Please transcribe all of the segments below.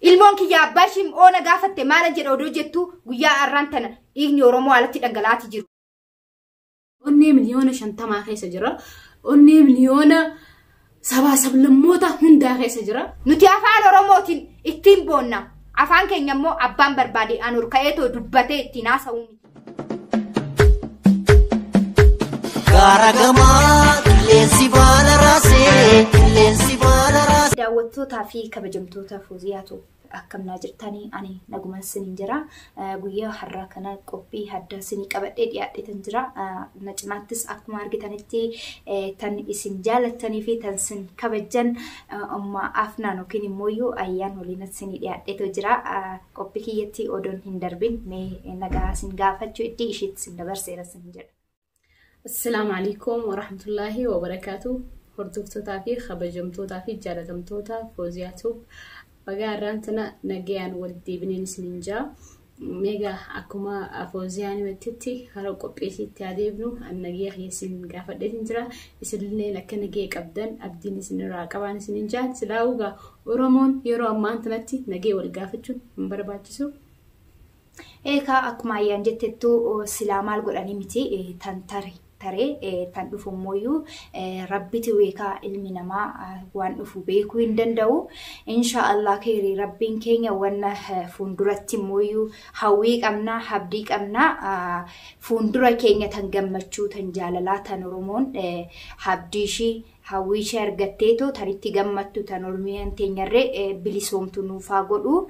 Ilmoon kiyya abbaa ishii oona gaafatte maala jedha odoo jettu guyyaa arraan tana dhiigni Oromoo alatti dhangala'aati jiru. Onnee miliyoona shantamaa keessa jira. Onnee miliyoona sabaa sablammoota hundaa keessa jira. Nuti afaan Oromootiin ittiin boonna. Afaan keenya immoo abbaan barbaade aan ol ka'eetoo dubbatee ittiin haasa'uu miti. Gaara gamaa qilleensi baala raasee qilleensi baala raasee. Daawwattootaa fi kabajamtoota Fooziyaatu akkam naa jirtanii ani nagumaan siniin jira. Eh, Guyyaa har'aa kana qophii addaa sinii qabadhee dhiyaadheetan jira. Eh, Na cinaattis akkuma argitanitti eh, tan isin jaalattanii fi tan sin kabajjan eh, amma afnaan yookiin immoo iyyuu ayyaan waliin sinii dhiyaadheetu jira. Eh, Qoppi kiyyatti odon hin darbin mee nagaa sin gaafachu iddii ishiitti sin dabarseera sin jedha. Assalaamu alaikum warahmatullaahi wabarakaatu hordoftootaa fi kabajamtootaa fi jaalatamtoota Fooziyaa Tuub bagaa irraan tana nagayaan wal deebineen isinin jaa meega akkuma Fooziyaa nimettitti hara qopheesii itti adeemnu an nagaya kiyya isin gaafadheetin jira isinilleen akka nagaya qabdan abdiin isinirraa qabaan isinin jaan silaa ugaa Oromoon yeroo ammaan tanatti nagee wal gaafachuun hin barbaachisu. Eekaa akkuma ayyaan jettettuu silaa maal godhanii miti tan tare taree tan dhufu immooyyuu rabbiti weekaa ilmi namaa waan dhufu beekuu hin danda'u. Insha Allah keerii rabbiin keenya wanna fuulduratti immooyyuu hawwii qabnaa habdii qabnaa fuuldura keenya tan gammachuu tan jaalalaa tan Oromoon habdii ishii Hawwii ishee argatteetoo tan itti gammattu tan Oromiyaan teenyarree bilisoomtu nuuf haa godhu.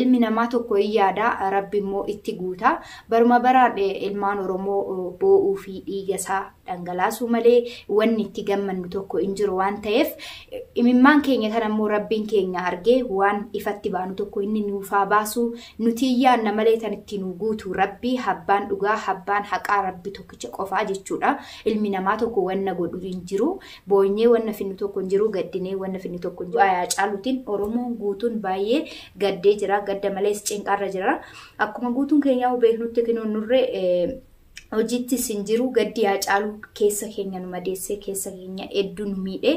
Ilmi namaa tokko hin yaada, Rabbi immoo itti guuta. Baruma baraan ilmaan Oromoo boo'uu fi dhiiga isaa dhangalaasuu malee wanni itti gammannu tokko hin jiru waan ta'eef imimmaan keenya kana immoo Rabbiin keenya argee waan ifatti baanu tokko inni nuuf haa baasu. Nutii yaanna malee tan itti nuu guutu Rabbii habbaan dhugaa habbaan haqaa Rabbi tokkicha qofaa jechuudha ilmi namaa tokko wanna godhu hin jiru boonyee wanna finnu tokko hin jiru gaddinee wanna finnu tokko hin jiru du'a Haacaaluutiin Oromoon guutuun baay'ee gaddee jira gadda malees cinqaarra jira akkuma guutuun keenyaa beeknutti kinoo nurre hojittis hin jiru gaddi haacaaluu keessa keenya nu madeessee keessa keenya hedduu nu miidhe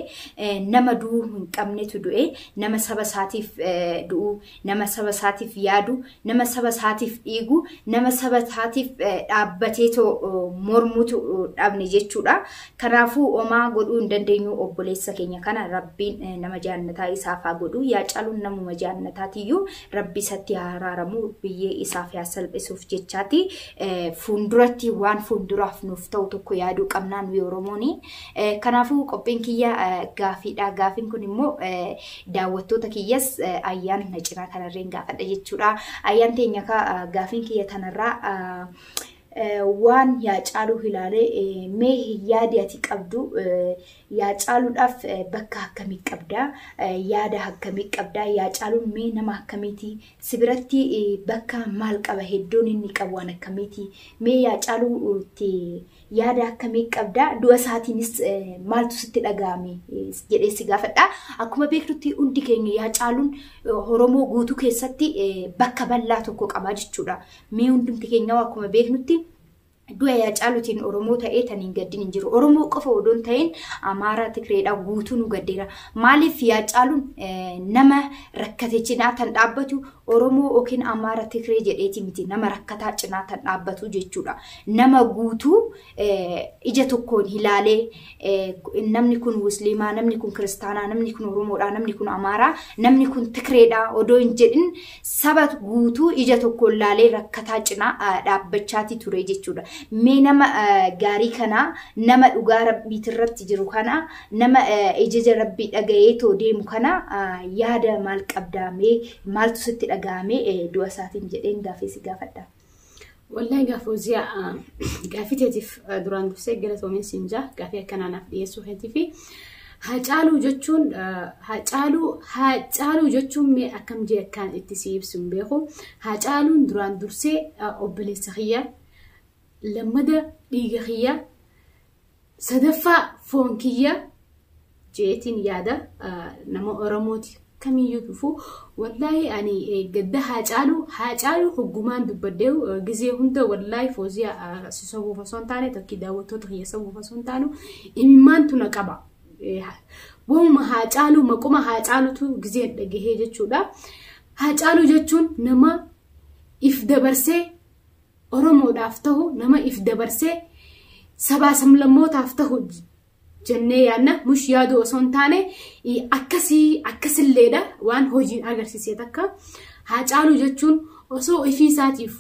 nama du'uu hin qabnetu du'e nama saba isaatiif du'u nama saba isaatiif yaadu nama saba isaatiif dhiigu nama saba isaatiif dhaabbateetoo mormutu dhabne jechuudha kanaafuu omaa godhuu hin dandeenyu obboleessa keenya kana rabbiin nama jaannataa isaaf haa godhu haacaaluun namuma jaannataatiyyuu Rabbi isatti haa araaramu, biyyee isaaf yaa salphisuuf jechaati. Fuulduratti waan fuulduraaf nuuf ta'u tokko yaaduu qabnaa nuyi Oromooni. Kanaafuu qophiin kiyya gaafiidha. Gaafiin kun immoo daawwattoota kiyyas ayyaan na cinaa kanarreen gaafadha jechuudha. Ayyaan teenya gaafiin kiyya tanarraa waan yaa caaluu hilaale mee yaadi ati qabdu yaa caaluudhaaf bakka akkamii qabda yaada akkamii qabda yaa caaluun mee nama akkamiiti si biratti bakka maal qaba hedduun inni qabu waan akkamiiti mee yaa caaluutti yaada akkamii qabda du'a isaatiinis maaltu sitti dhaga'ame jedhee si gaafadha akkuma beeknutti hundi keenya yaa caaluun oromoo guutuu keessatti bakka bal'aa tokko qabaa jechuudha Mee hundumti keenyaa akkuma beeknutti du'a Haacaaluutiin Oromoo ta'ee tan hin gaddin hin jiru. Oromoo qofa odoo hin ta'in Amaaraa Tigreedhaa guutuu nu gaddeera. Maaliif Haacaaluun nama rakkate cinaa tan dhaabbatu Oromoo yookiin Amaara Tigree jedheeti miti nama rakkataa cinaa tan dhaabbatu jechuudha. Nama guutuu ija tokkoon ilaalee namni kun musliimaa, namni kun kiristaanaa, namni kun oromoodhaa, namni kun amaaraa, namni kun tikreedhaa odoo hin jedhin saba guutuu ija tokkoon ilaalee rakkataa cinaa dhaabbachaatii ture jechuudha. Mee nama gaarii kanaa nama dhugaa rabbiitti irratti jiru kanaa nama ijaja rabbii dhaga'ee too deemu kana yaada maal qabdaa mee maaltu sitti dhaga'amee du'a isaatiin jedheen gaafeessi gaafadhaa. Wallahi gaaf Fooziyaa gaafii teetiif duraan dursee galatoomiin siin jaa gaafii akkanaa naaf dhiyeessuu keetii fi Haacaaluu jechuun Haacaaluu Haacaaluu jechuun mee akkam jee akkaan itti si ibsu hin beeku. Haacaaluun duraan dursee obboleessa kiyya lammada dhiiga kiyya Sadaffaa foon kiyya jeetiin yaada nama Oromooti kamiyyuu dhufuu wallaahi ani gadda haa caalu haa caalu hoggumaan dubbadhee gizee hunda wallaahi fooziyaa si sobuuf osoo hin taane tokkii daawwattoota kiyya sobuuf osoo hin taanu imimmaan tuna qaba. Waanuma haa caalu maquma haa caalutu gizeen dhagahee jechuudha. Haa caalu jechuun nama if dabarsee Oromoodhaaf tahu nama if dabarsee sabaa samlammootaaf tahu jennee yaadna mush yaaduu osoo hin taane akkasii akkasilleedha waan hojiin agarsiisee takka haacaaluu jechuun osoo ifii isaatiif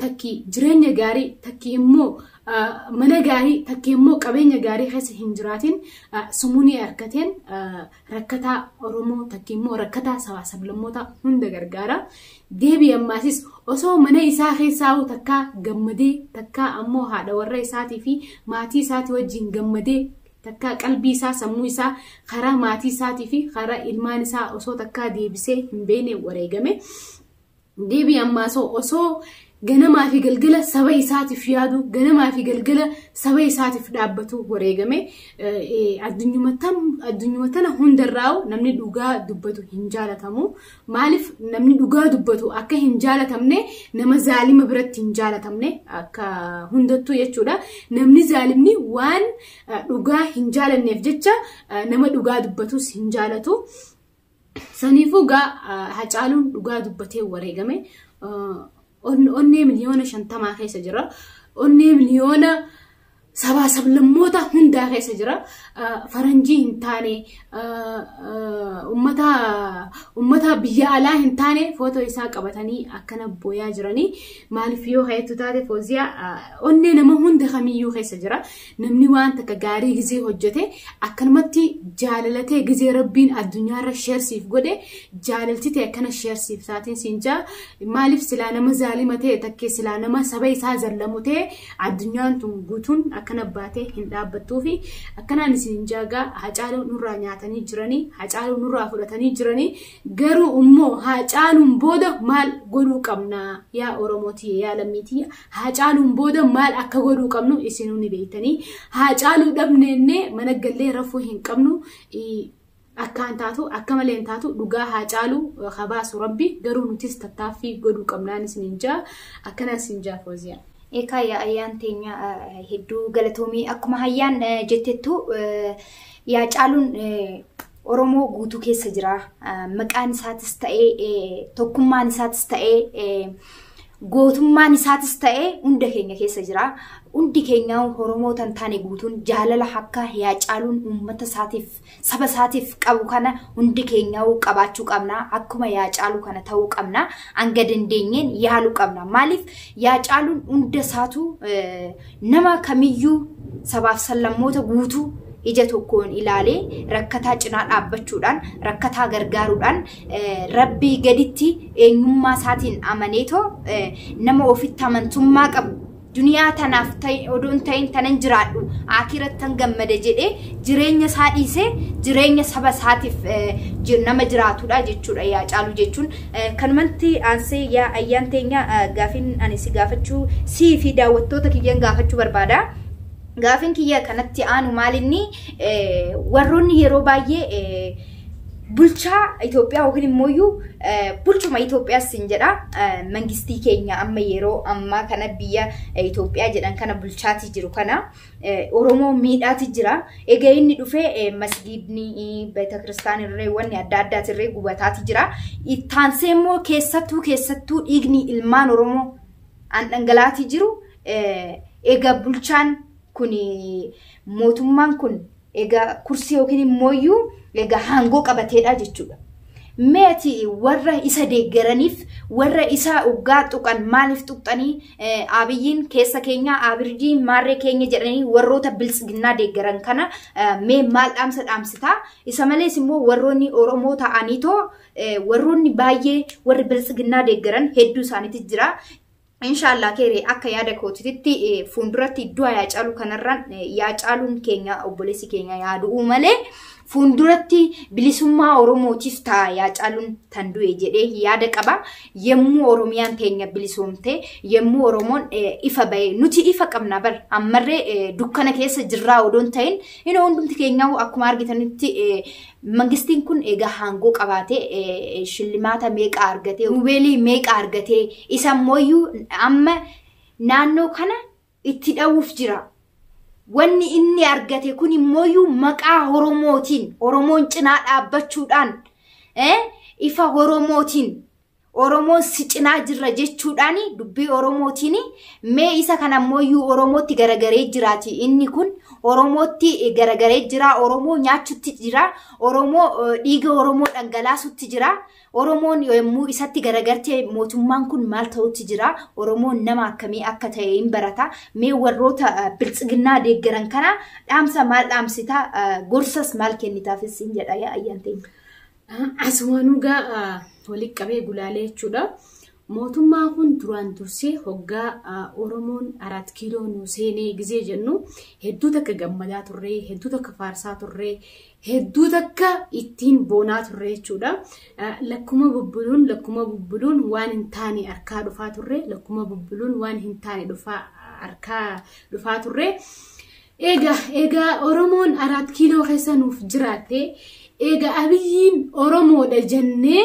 takki jireenya gaarii takki immoo mana gaarii takki immoo qabeenya gaarii keessa hin jiraatin sumunii harkateen rakkataa Oromoo takka immoo rakkataa sabaa sablammoota hunda gargaara. Deebii ammaasis osoo mana isaa keessaa'uu takkaa gammadee takkaa ammoo haadha warra isaatii fi maatii isaatii wajjin gammadee takkaa qalbii isaa sammuu isaa karaa maatii isaatii fi karaa ilmaan isaa osoo takkaa deebisee hin beekne wareegame. Deebii Ammaasoo osoo ganamaa fi galgala saba isaatiif yaadu, ganamaa fi galgala saba isaatiif dhaabbatu wareegame. Addunyuma tana hundarraa'u namni dhugaa dubbatu hin jaalatamu. Maaliif namni dhugaa dubbatu akka hin jaalatamne nama zaalima biratti hin jaalatamne akka hundattuu jechuudha. Namni zaalimni waan dhugaa hin jaalanneef jecha nama dhugaa dubbatus hin jaalatu. Saniifuu gaa Hacaaluun dhugaa dubbatee wareegame onnee miliyoona shantamaa keessa jira. Onnee miliyoona sabaa sablammoota hundaa keessa jira. Faranjii hin taane ummata biyya alaa hin taane footoo isaa qabatanii akkana booyaa jiranii maaliif yoo ka'eettu taate fooziyaa onnee nama hunda kamiyyuu keessa jira. Namni waan takka gaarii gizee hojjete akkanumatti jaalalatee gizee rabbiin addunyaarra sheer siif godhe jaalalti ta'e akkana sheer siif taatiin siin jaa maaliif silaa nama zaalima ta'e takkee silaa nama saba isaa zallamu ta'e addunyaan tun guutuun akkana baatee hin dhaabbattuu fi akkanaan isin jaagaa hacaaluu nurraa nyaatanii jiranii hacaaluu nurraa fudhatanii jiranii garuu immoo hacaaluun booda maal godhuu qabna yaa oromootii yaa lammiitii Haacaaluun booda maal akka godhuu qabnu isinuu ni beektanii. Haacaaluu dhabneennee mana gallee rafuu hin qabnu. Akkaan taatu akka malee hin taatu dhugaa haacaaluu habaasu rabbi garuu nutis tattaaffii godhuu qabnaan isiniin jaa akkanaan isin jaa fooziyaa. Eekaa yaa ayyaan teenya hedduu galatoomii akkuma hayyaan jettettu yaa caaluun Oromoo guutuu keessa jira. Maqaan isaatis ta'ee tokkummaan isaatis ta'ee gootummaan isaatis ta'ee hunda keenya keessa jira. Hundi keenya Oromoo tan taane guutuun jaalala akka yaa caaluun uummata isaatiif saba isaatiif qabu kana hundi keenya qabaachuu qabna. Akkuma yaa caalu kana ta'uu qabna. Hanga dandeenyeen yaaluu qabna. Maaliif yaa caaluun hunda isaatu Nama kamiyyuu sabaaf sallammoota guutuu ija tokkoon ilaalee rakkataa cinaa dhaabbachuudhaan, rakkataa gargaaruudhaan Rabbii gaditti eenyummaa isaatiin amaneetoo nama ofitti amantummaa qabu duniyaa tanaaf odoo hin ta'in tanan jiraadhu aakirattan gammada jedhee jireenya isaa dhiisee jireenya saba isaatiif nama jiraatudha jechuudha yaa caalu jechuun Kanumatti aansee yaa Ayyaan teenya gaafiin ani si gaafachuu sii fi daawwattoota kiyyan gaafachuu barbaada. Gaafiin kiyya kanatti aanu maalinni warroonni yeroo baay'ee bulchaa Itoophiyaa yookiin immoo iyyuu bulchuma Itoophiyaas sin jedha mangistii keenya amma yeroo ammaa kana biyya Itoophiyaa jedhan kana bulchaatii jiru kana Oromoo miidhaati jira. Egaa inni dhufee masgiidni beetakristaan irree wanni adda addaati irree gubataati jira. Ittaansee immoo keessattuu keessattuu dhiigni ilmaan Oromoo an dhangalaati jiru. Egaa bulchaan kun mootummaan kun egaa kursii yookiin immooyyuu egaa haangoo qabateedha jechuudha. Mee ati warra isa deeggaraniif warra isa oggaa tuqan maaliif tuqxanii abiyyiin keessa keenya abirdiin maarree keenya jedhanii warroota biltsiginnaa deeggaran kana mee maal dhaamsa dhaamsitaa isa malees immoo warroonni oromoo ta'anii too warroonni baay'ee warri biltsiginnaa deeggaran hedduu isaaniitti jira Inshaallaa keeri akka yaada kootititti fuulduratti du'a yaa caalu kanarraan yaa caaluun keenya obboleessi keenya yaa du'uu malee fuulduratti bilisummaa Oromootiif ta'a yaa caaluun tan du'e jedhee yaada qaba. Yemmuu Oromiyaan teenya bilisoomte yemmuu Oromoon ifa ba'e nuti ifa qabna bar ammarree dukkana keessa jirraa odoon ta'in inni hundumti keenyaa akkuma argitanitti Mangistiin kun egaa haangoo qabaatee shillimaata meeqa argatee, rubeelii meeqa argatee, isa immoo amma naannoo kana itti dha'uuf jira. Wanni inni argate kun immoo maqaa Oromootiin, Oromoon cinaa dhaabbachuudhaan, ifa Oromootiin Oromoon si cinaa jirra jechuudhaan dubbii Oromootiin mee isa kan ammooyyuu Oromootti garagaree jiraati. Inni kun Oromootti garagaree jira. Oromoo nyaachutti jira. Oromoo eh, dhiiga Oromoo dhangalaasutti jira. Oromoon yommuu isatti garagartee mootummaan kun maal ta'utti jira. Oromoon nama akkamii akka ta'e hin barata. Mee warroota eh, biltsiginnaa deeggaran kana dhaamsa maal dhaamsita? Eh, Gorsas maal kennitaafis hin jedha yaa ayyaanteenya. Asumaanuu gaa walitti qabee gulaalee jechuudha. Mootummaa kun duraan dursee hoggaa Oromoon Araat Kiiloo nu seenee gizee jennu hedduu takka gammadaa turre, hedduu takka faarsaa turre, hedduu takka ittiin boonaa turre jechuudha. Lakkuma bubbuluun lakkuma bubbuluun waan hin taane harkaa dhufaa turre, lakkuma bubbuluun waan hin taane dhufaa harkaa dhufaa turre. Eega eega Oromoon Araat Kiiloo keessa nuuf jiraatte eega Abiyyiin Oromoodha jennee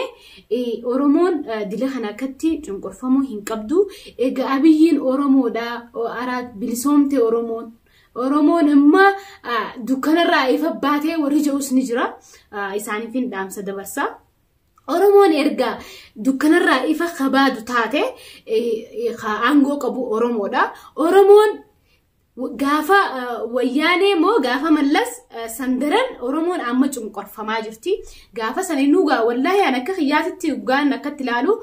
Oromoon dila kana akkatti cunqurfamuu hin qabdu. Eega Abiyyiin Oromoodha Araat bilisoomte Oromoon. Oromoon amma dukkanarraa ifa baatee warri ja'us ni jira. Isaaniif hin dhaamsa dabarsa. Oromoon erga dukkanarraa ifa kabaadu taate aangoo qabu Oromoodha. Oromoon Gaafa wayyaanee moo gaafa mallas sandaran Oromoon amma cunqorfamaa jirti. Gaafa san inni dhugaa wallaahi an akka kiyyaatitti dhugaan akkatti ilaalu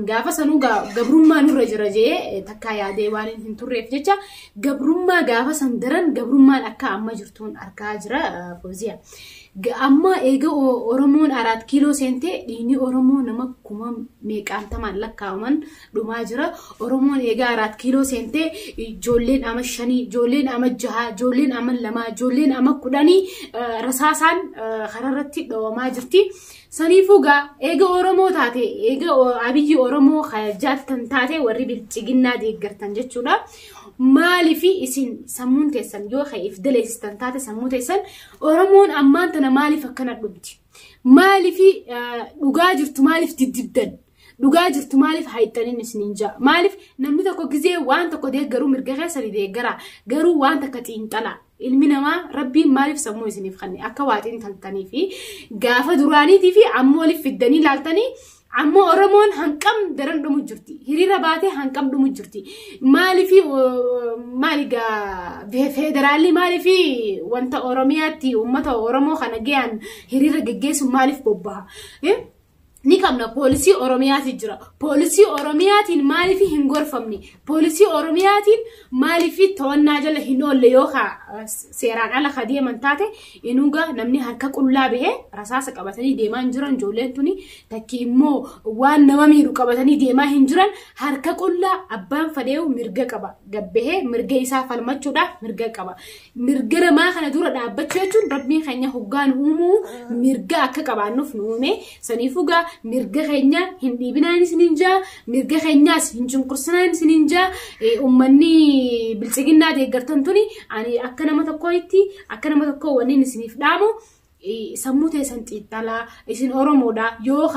gaafa san dhugaa gabrummaa nurra jira jee takkaa yaadee waan hin turreef jecha gabrummaa gaafa sandaran gabrummaan akka amma jirtuun argaa jira fooziya. Amma eega Oromoon araat kiiloo seentee dhiigni Oromoo nama kuma meeqaantamaan lakkaa'aman dhumaa jira. Oromoon eegaa araat kiiloo seentee ijoolleen ama shanii, ijoolleen ama jahaa, ijoolleen ama lamaa, ijoolleen ama kudhanii rasaasaan kararratti dhawamaa jirti. Saniifuu gaa eega Oromoo taate, eega abiyyi Oromoo jaaltan taate warri bilchiginnaa deeggartan jechuudha. Maaliif isin sammuun teessan yoo ka'eef daleessitan taate sammuu teessan Oromoon ammaan tana maaliif akkana dhumti? Maaliif dhugaa jirtu maaliif diddiddan? Dhugaa jirtu maaliif haayixxaniin isiniin ja'a? Maaliif namni tokko gizee waan tokko deeggaruu mirga keessani deeggaraa garuu waan takka xiinxala. Ilmi namaa rabbiin maaliif sammuu isiniif kanne akka waa xiinxaltanii fi gaafa duraaniitii fi ammoo waliif fiddanii laaltanii ammoo Oromoon hanqam daran dhumu jirti. Hiriira baatee hanqam dhumu jirti. Maaliif maali gaa federaalli maaliif wanta Oromiyaatti uummata Oromoo kana ga'an hiriira geggeessuun maaliif bobbaha? ni qabna poolisii oromiyaatiin jira poolisii oromiyaatiin maaliif hin gorfamne poolisii oromiyaatiin maaliif to'annaa jala hin oolle yoo ka seeraan ala ka deeman taate inuuga namni harka qullaa bahee rasaasa qabatanii deemaa hin jiran ijoolleen tuni takki immoo waan nama miidhu qabatanii deemaa hin jiran harka qullaa abbaan fadheewu mirga qaba gabbahee mirga isaa falmachuudhaaf mirga qaba Mirga namaa kana dura dhaabbachuu jechuun rabbiin keenya hoggaan uumuu mirga akka qabaannuuf nu uume saniifuu gaa mirga keenya hin dhiibinaan isiniin jaa mirga keenyaas hin cunqursinaan isiniin jaa ummanni bilchiginnaa deeggartan tuni ani akka nama tokkootti akka nama tokkoo waliin isiniif dhaamu sammuu teessan xiixxalaa isin oromoodha yoo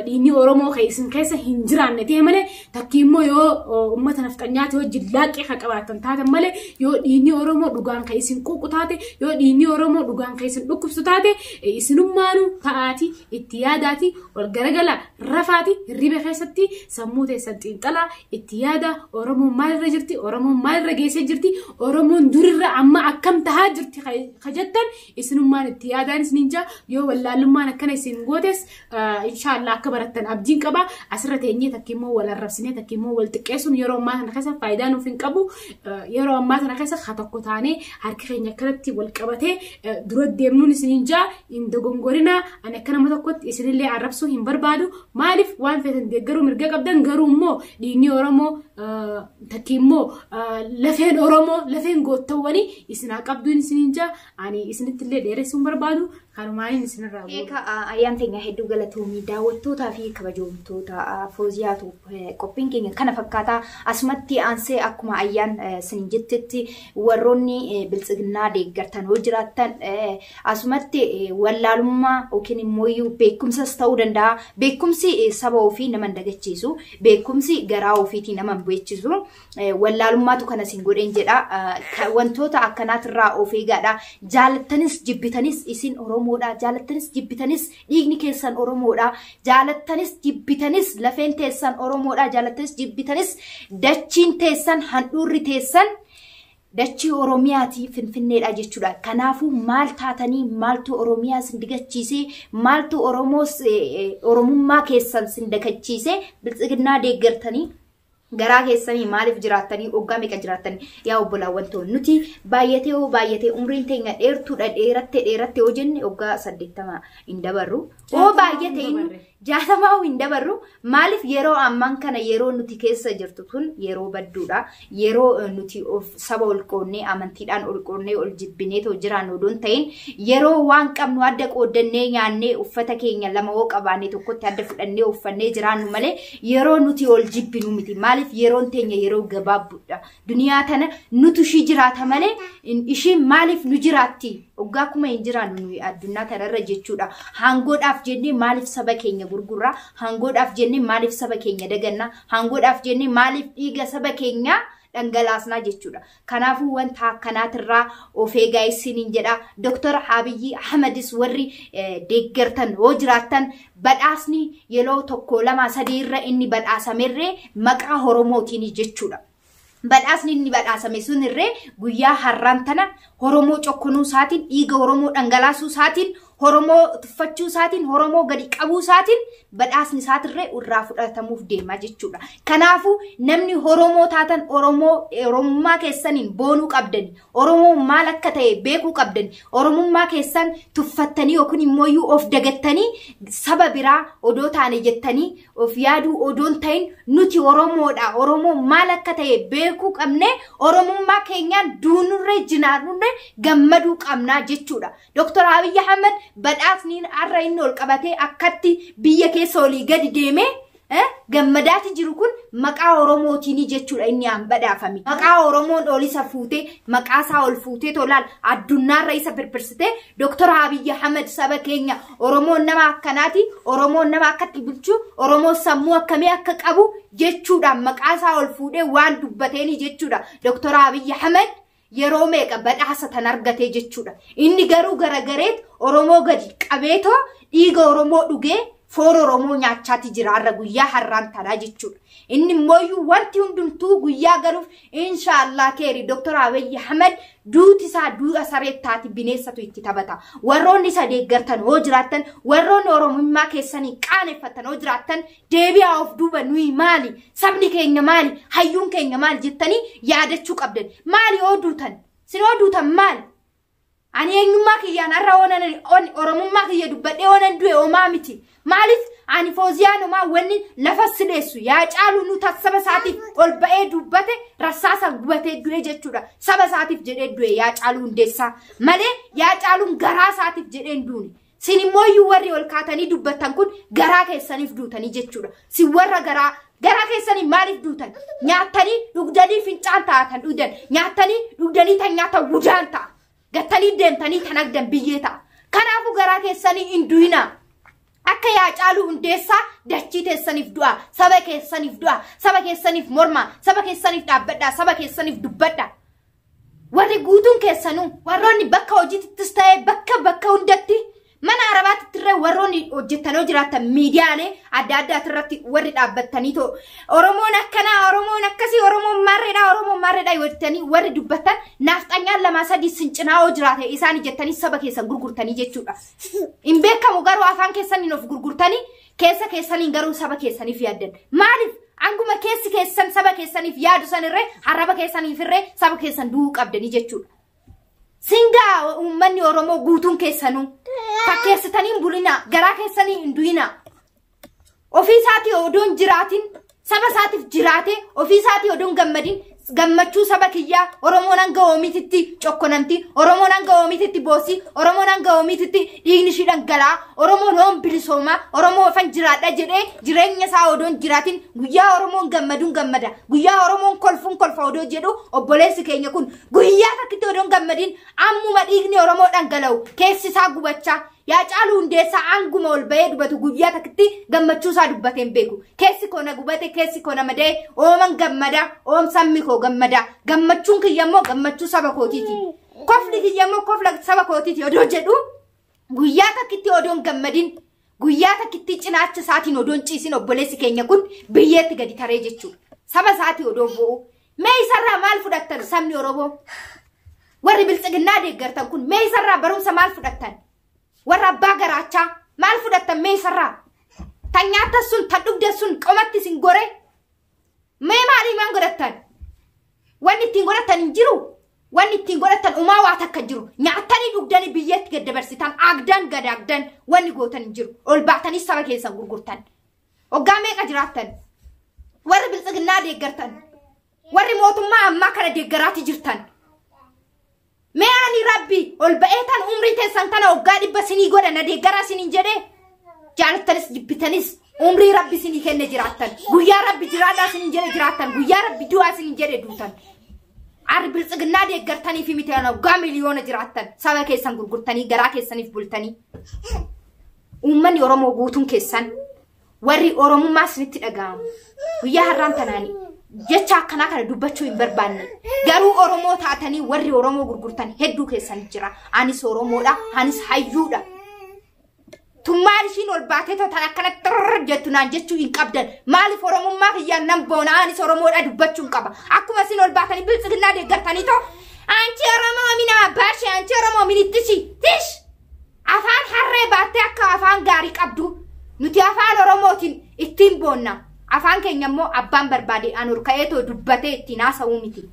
dhiinni oromoo kee isin keessa hin jiraanne ta'e malee takkii immoo yoo uummata nafxanyaati wajjin laaqqee kan qabaatan taatan malee yoo dhiinni oromoo dhugaan kan isin quuqu taate yoo dhiinni oromoo dhugaan kan isin dhukkubsu taate isinummaanuu ta'aati itti yaadaati wal garagala rafaati hirriba keessatti sammuu teessan xiixxalaa itti yaada oromoon maalirra jirti oromoon maalirra geessee jirti oromoon durirra amma akkam tahaa jirti ka jettan isinummaan itti yaadaan isiniin jaa yoo wallaalummaan akkana isin gootes inshaallah akka barattan abdiin qaba asirra teenyee takka immoo wal arrabsinee takka immoo wal xiqqeessuun yeroo ammaa kana keessa faayidaa nuuf hin qabu yeroo ammaa kana keessa haa tokko taanee harki keenya akkanatti wal qabatee dura deemnuun isiniin jaa hin dogongorinaa ani akka nama tokkotti isinillee arrabsuu hin barbaadu maaliif waan feetan deeggaruu mirga qabdan garuu immoo dhiigni oromoo Takki immoo lafeen Oromoo lafeen goottawwanii isin haa qabduun isiniin jaa ani isinitti illee dheeressuun barbaadu kanumaaniin isinirraa bu'u. Eeka ayyaan teenya hedduu galatoomii daawwattootaa fi kabajoomtoota fooziyaatu qophiin keenya kana fakkaataa asumatti aansee akkuma ayyaan sin jettetti warroonni biltsiginnaa deeggartan yoo jiraattan Asumatti wallaalummaa yookiin immoo beekumsas ta'uu danda'a. Beekumsi saba ofii nama hin dagachiisu. Beekumsi garaa ofiitii nama hin beechisu. Wallaalummaatu kana isin godheen jedha. Wantoota akkanaatirraa of eegaadha. Jaalattanis jibbitanis isin Oromoodha. Jaalattanis jibbitanis dhiigni keessan Oromoodha. Jaalattanis jibbitanis lafeen teessan Oromoodha. Jaalattanis jibbitanis dachiin teessan handhuurri teessan Dachii Oromiyaati Finfinneedha jechuudha. Kanaafuu maal taatanii maaltu Oromiyaa sin digachiisee maaltu Oromoos Oromummaa keessan sin dagachiisee biltsiginnaa deeggartanii garaa keessanii maaliif jiraattanii oggaa meeqa jiraattan yaa obbolaawwan ta'u nuti baay'atee hoo baay'atee umriin teenya dheertuudha dheeratte dheeratte hoo jenne oggaa saddeettama hin dabarru hoo baay'ate Jaatamaa hin dabarru maaliif yeroo ammaan kana yeroo nuti keessa jirtu tun yeroo badduudha. Yeroo eh, nuti of saba ol qoonnee amantiidhaan ol qoonnee ol jibbinee too jiraannu odoo hin ta'in yeroo waan qabnu adda qooddannee nyaannee uffata keenya lama hoo qabaannee tokkotti adda fudhannee uffannee jiraannu malee yeroo nuti ol jibbinu miti. Maaliif yeroon teenya yeroo gabaabduudha. Duniyaa tana nutu ishii jiraata malee in- ishiin maaliif nu jiraatti? Waggaa kuma hin jiraannu nuyi addunyaa tanarra jechuudha. Haangoodhaaf jennee maaliif saba keenya gurgurra? Haangoodhaaf jennee maaliif saba keenya daganna? Haangoodhaaf jennee maaliif dhiiga saba keenyaa dhangalaasnaa jechuudha. Kanaafuu wanta akkanaatirraa of eegaa isiniin jedha. Doktor Abiyyi Ahmadis warri eh, deeggartan yoo jiraattan Badhaasni yeloo tokkoo lamaa sadii irra inni badhaasamerree maqaa horomootiini jechuudha. Badhaasni inni badhaasame sun irree guyyaa harraan tana horomoo cokkonuu isaatiin dhiiga horomoo dhangalaasuu isaatiin horomoo tuffachuu isaatiin horomoo gadi qabuu isaatiin badhaasni isaatirree irraa fudhatamuuf deema jechuudha. Kanaafuu namni horomoo taatan oromoo oromummaa keessaniin boonuu qabdani Oromoo maal akka ta'e beekuu qabdan. Oromummaa keessan tuffattanii yookiin immoo iyyuu of dagattanii saba biraa odoo taane jettanii of yaaduu odoon ta'in nuti Oromoodha. Oromoo maal akka ta'e beekuu qabne Oromummaa keenyaan duunurree jinaarrurree gammaduu qabnaa jechuudha. Dooktar Abiyyi Ahmed badhaasni har'a inni ol qabatee akkatti biyya keessa olii gadi deemee Eh, gammadaati jiru kun maqaa Oromootiini jechuudha inni aan badhaafame. Maqaa Oromoon ol isa fuutee, maqaa isaa ol fuutee tolaan addunyaarra isa birbirsitee Dr. Abiy Ahmed saba keenya Oromoon nama akkanaati, Oromoon nama akkatti bulchu, Oromoon sammuu akkamii akka qabu jechuudhaan maqaa isaa ol fuudhee waan dubbateeni jechuudha. Dr. Abiy Ahmed yeroo meeqa badhaasa tan argatee jechuudha. Inni garuu garagareet Oromoo gadi qabeetoo dhiiga Oromoo dhugee foon Oromoo nyaachaati jira har'a guyyaa har'aan taraa jechuudha. Inni immoo wanti hundumtuu guyyaa galuuf inshaallah keeri Dr. Abiy Ahmed duuti isaa duudha saree taati bineessatu itti taphata. Warroonni isa deeggartan hoo jiraattan warroonni Oromummaa keessanii qaaneffattan hoo jiraattan deebi'aa of duuba nuyi maali sabni keenya maali hayyuun keenya maali jettanii yaadachuu qabdan maali yoo duutan sin yoo duutan maali ani eenyummaa kiyyaan har'a oonan on- oromummaa kiyya dubbadhee oonan du'e omaa miti maaliif ani fooziyaan omaa wanni lafa sileessu yaa caalu nu tas saba isaatiif ol ba'ee dubbate rassaasa gubatee du'e jechuudha saba isaatiif jedhee du'e yaa caalu hundeessaa malee yaa caaluun garaa isaatiif jedhee hin duune Sin immoo iyyuu warri ol kaatanii dubbattan kun garaa keessaniif duutanii jechuudha. Sin warra garaa garaa keessanii maaliif duutan? Nyaattanii dhugdanii fincaan taatan dhugdan. Nyaattanii dhugdanii tan nyaatan gudaan ta'a. Gattanii deemtanii tan agdan biyyee ta'a. Kanaafuu garaa keessanii hin du'inaa. Akka yaa caaluu hundeessaa dachii teessaniif du'a, saba keessaniif du'a, saba keessaniif morma, saba keessaniif dhaabbadha, saba keessaniif dubbadha. Warri guutuun keessanuu warroonni bakka hojiittis ta'ee bakka bakka hundatti mana arabaatti irra warroonni hojjettanii jiraattan miidiyaalee adda addaati irratti warri dhaabbattanii too Oromoon akkanaa Oromoon akkasii Oromoon maarreedhaa Oromoon maarreedhaa yoo jettanii warri dubbattan naafxanyaan lamaa sadii sin cinaa hoo jiraate isaan jettanii saba keessan gurgurtanii jechuudha. Hin beekamu garuu afaan keessaniin of gurgurtanii Keessa keessaniin garuu saba keessaniif yaaddan. Maaliif? Anguma keessi keessan saba keessaniif yaadu sanirree harraba keessaniifirree saba keessan du'uu qabdanii jechuudha. Singaa uummanni Oromoo guutuun keessanuu fakkeessitanii hin bulinaa garaa keessanii hin du'inaa. Ofii isaatii odoon jiraatiin Saba isaatiif jiraatee ofii isaatii odoon gammadin gammachuu saba kiyyaa Oromoon hanga oomiititti cokkonamti, Oromoon hanga oomiititti boossi, Oromoon hanga oomiititti dhiigni ishii dhangalaa, Oromoon oon bilisoomaa, Oromoo ofan jiraadha jedhee jireenya isaa odoon jiraatin guyyaa Oromoon gammaduun gammada, guyyaa Oromoon kolfuun kolfa odoo jedhu obboleessi keenya kun guyyaa takkitti odoon gammadin ammuma dhiigni Oromoo dhangala'u keessi isaa gubachaa Yaa caaluu hundeessaa aanguma ol bahee dubatu guyyaa takkitti gammachuu isaa dubbatee hin beeku. Keessi koo na gubate, keessi koo na mada'e, ooman gammada, oom sabni koo gammada. Gammachuun kiyya immoo gammachuu saba kootiiti. Kofli kiyya immoo kofla saba kootiiti odoo jedhu guyyaa takkitti odoon gammadin guyyaa takkitti cinaacha isaatiin odoon ciisin obboleessi keenya kun biyyeetti gadi taree jechuudha. Saba isaatii odoo bo'u Mee isarraa maal fudhattan sabni Oromoo? Warri bilxiginnaa deeggartan kun mee isarraa barumsa maal fudhattan? Warra abbaa garaachaa maal fudhattan mee isarraa? Tan nyaatan sun tan dhugdan sun qomatti isin gore? Mee maalii maan godhattan? Wanni ittiin godhattan hin jiru? Wanni ittiin godhattan umaa waa takka jiru. Nyaatanii dhugdanii biyyatti gad dabarsitan aagdan gad aagdan wanni gootan hin jiru. Ol baatanii saba keessan gurgurtan. Waggaa meeqa jiraattan? Warri biltsiginnaa deeggartan. Warri mootummaa ammaa kana deeggaraati jirtan. Mee ani rabbi ol ba'ee tan umrii teessan kana waggaa dhibba sinii godha na deeggaraa siniin jedhee jaalattanis jibbitanis umrii rabbi sinii kenne jiraattan. Guyyaa rabbi jiraadhaa siniin jedhe jiraattan. Guyyaa rabbi du'aa siniin jedhe duutan. Arri biltsiginnaa deeggartanii fi miti waggaa miliyoona jiraattan. Saba keessan gurgurtanii garaa keessaniif bultanii. Uummanni Oromoo guutuun keessan warri Oromummaa isinitti dhaga'amu guyyaa har'aan tanaan jecha akkanaa kana dubbachuu hin barbaanne garuu Oromoo taatanii warri Oromoo gurgurtan hedduu keessan jira anis Oromoodha anis hayyuudha tummaan ishiin ol baatee totan akkana xirr jettu naan jechuu hin qabdan maaliif Oromummaa kiyyaan nan boona anis Oromoodha dubbachuu hin qaba akkuma isin ol baatanii biltsiginnaa deeggartanii too anchi Oromoo minaa baashee anchi Oromoo minittishi tish Afaan harree baattee akka afaan gaarii qabdu nuti afaan Oromootiin ittiin boonna. Afaan keenya immoo abbaan barbaade an ol ka'ee too dubbatee ittiin haasa'uu miti.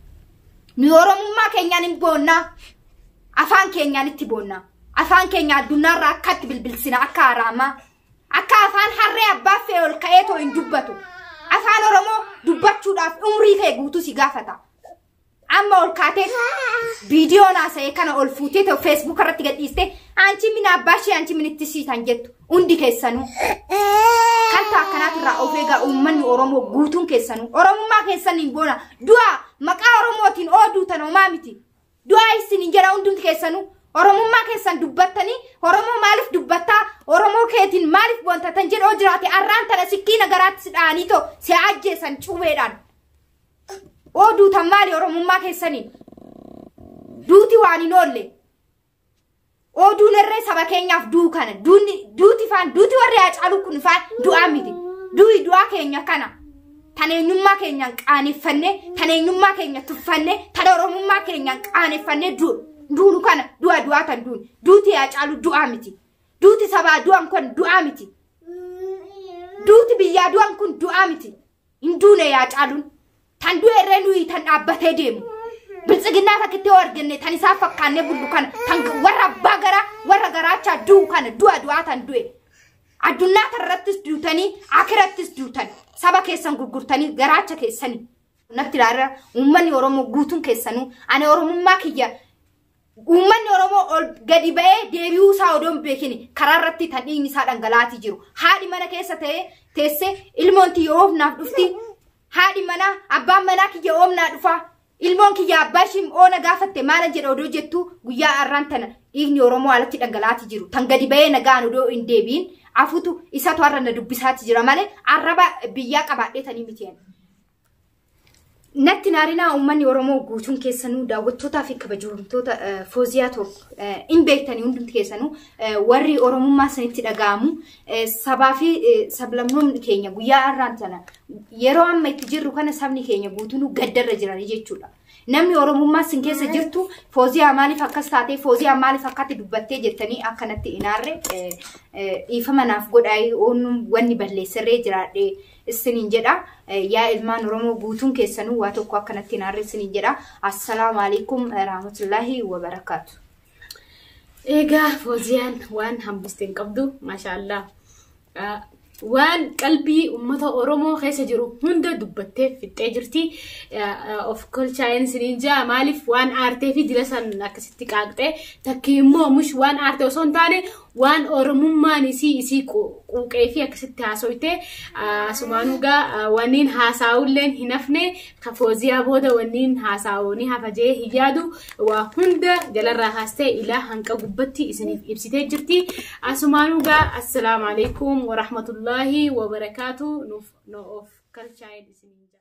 Nu Oromummaa keenyaan hin boonna. Afaan keenyaan itti boonna. Afaan keenya addunyaarraa akkatti bilbilsina akka haraamaa. Akka afaan harree abbaa fe'ee ol ka'ee too hin dubbatu. Afaan Oromoo dubbachuudhaaf umrii kee guutuu si gaafata. Amma ol kaatee viidiyoon haasa'e kana ol fuutee ta'u feesbuuk irratti gadhiiste anchi min abbaa ishee anchi min itti siitan jettu hundi keessanuu. Kan ta'u akkanaatu irraa of eegaa uummanni Oromoo guutuun keessanuu Oromummaa keessan hin boona du'a maqaa Oromootiin ooduu tan homaa miti. Du'a isin hin jedha hundumti keessanuu Oromummaa keessan dubbattanii Oromoo maaliif dubbattaa Oromoo keetiin maaliif boonta tan jedhoo jiraate arraan tana sikkiina garaatti si dha'anii too si ajjeesan cubeedhaan. oo duutan maali oromummaa keessanii duuti waan hin oolle oo duun irree saba keenyaaf duu kana duunni duuti faan duuti warri haacaaluu kun faan du'aa miti du'i du'aa keenya kana tan eenyummaa keenyaan qaaneffanne tan eenyummaa keenya tuffanne tan oromummaa keenyaan qaaneffanne du- duunu kana du'a du'aa tan duun duuti haacaaluu du'aa miti duuti sabaa du'an kun du'aa miti duuti biyyaa du'an kun du'aa miti Hin duune yaa caaluun. Tan du'e irree nuyi tan dhaabbatee deemu. Biltsiginnaa takkitti yoo arganne tan isaa fakkaannee bullu kana tan warra abbaa garaa warra garaachaa du'u kana du'a du'aa tan du'e. Addunyaa tanarrattis duutanii akirattis duutan saba keessan gurgurtanii garaacha keessanii. Natti ilaala uummanni Oromoo guutuun keessanuu ani Oromummaa kiyya Uummanni Oromoo ol gadi ba'ee deebi'uu isaa odoo hin beekin karaa irratti tan dhiigni isaa dhangala'aatii jiru. Haadhi mana keessa ta'ee teessee ilmoon tiyya oofnaaf dhufti. Haadhi manaa abbaan manaa kiyya oomnaa dhufa. Ilmoon kiyya abbaa ishii oona gaafatte maala jedha odoo jettu guyyaa har'aan tana dhiigni Oromoo alatti dhangala'aatii jiru. Tan gadi ba'ee nagaan odoo hin deebiin afutu isatu har'a na dubbisaati jira malee arraba biyyaa qabaadhee tanii miti. Natti naarinaa uummanni Oromoo guutuun keessanuu daawwattootaa fi kabajamtoota Fooziyaa Toob hin beektanii hundumti keessanuu warri Oromummaa isinitti dhaga'amu sabaa fi sablammoonni keenya guyyaa har'aan sana yeroo amma itti jirru kana sabni keenya guutuunuu gaddarra jiranii jechuudha. Namni Oromummaa isin keessa jirtu Fooziyaa maaliif akkas taatee Fooziyaa maaliif akkatti dubbattee jettanii akkanatti inaarre dhiifama naaf godhaa wanni balleesserree jiraadhee. issiniin jedha yaa ilmaan oromoo guutuun keessanuu waa tokko akkanatti hin aarre issiniin jedha assalaamu alaikum rahmatullahi wabarakaatu Egaa Fooziyaan waan hambiste hin qabdu maashaallah Ah, waan qalbii uummata Oromoo keessa jiru hunda dubbattee fixxee jirti. Ah, ah, Of kolchaa'een isiniin jaa maaliif waan aartee fi dila san akkasitti qaaqxee takkii immoo mush waan aarte osoo hin taane waan oromummaan isii isii quuqee fi akkasitti haasoyte asumaan dhugaa wanniin haasaa'ulleen hin hafne ka fooziyaa booda wanniin haasaa'u ni hafa jee hin yaadu waa hunda jalarraa haastee ilaa hanqa gubbatti isiniif ibsitee jirti asumaan dhugaa assalaamu alaikum warahmatullaahi wabarakaatu nuuf noof kalchaa'een isiniin jaa.